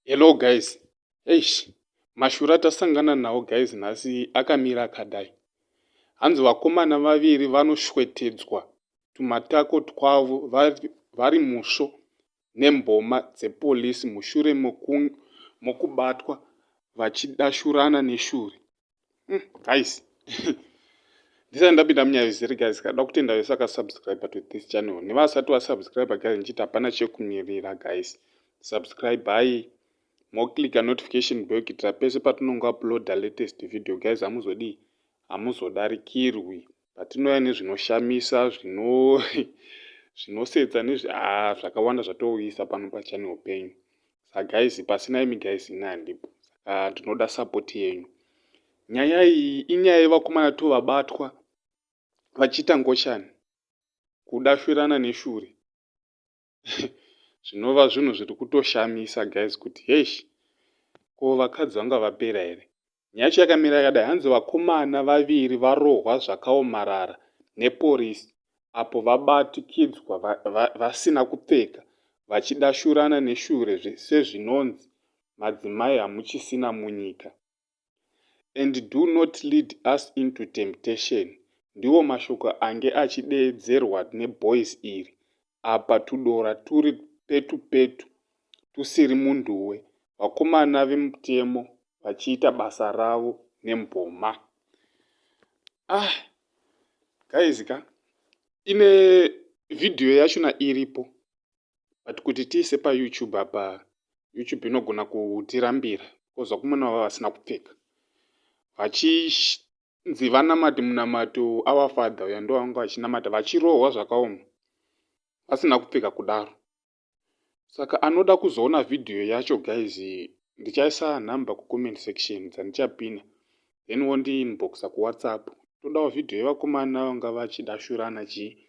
Hello guys. Eish, mashura tasangana nawo guys nhasi akamira akadai. Hanzi vakomana vaviri vanoshwetedzwa tumatako twavo vari musvo nemboma dzepolisi mushure mokubatwa vachidashurana neshuri hmm, guys ndisati ndapinda munyaya izere guys kada kutenda vese vakasubscribe to this channel nevasati vasubscribe guys ndichiti hapana chekumirira guys subscribe hai moclicka notification bell kuitira pese patinongouploada latest video guys hamuzodii hamuzodarikirwi patinouya nezvinoshamisa zvino zvinosetsa nezvi ah zvakawanda zvatouyisa pano pachane upenyu sa guys pasina imi guys ini handipo saka ndinoda support yenyu nyaya iyi inyaya yevakomana to vabatwa vachiita ngoshani kudashwirana neshure zvinova zvinhu zviri kutoshamisa guys kuti hesh ko vakadzi vanga vapera here nyacho yakamira yakadai hanzi vakomana vaviri varohwa zvakaomarara neporisi apo vabatikidzwa vasina kupfeka vachidashurana neshure sezvinonzi madzimai hamuchisina munyika and do not lead us into temptation ndiwo mashoko ange achideedzerwa neboys iri apa tudora turi petu petu tusiri munduwe vakomana vemutemo vachiita basa ravo nemboma ah guys ka ine vhidhiyo yachona iripo but kuti tiise payoutube apa youtube inogona kutirambira because vakomana vava vasina kupfeka vachinzi vanamati munamato our father uya ndo vanga vachinamata vachirohwa zvakaoma vasina kupfeka kudaro saka anoda kuzoona vhidhiyo yacho guys ndichaisa number kucomment section dzandichapina then wondiinboxa kuwhatsapp todawo vhidhiyo yevakomana vanga vachidashurana chii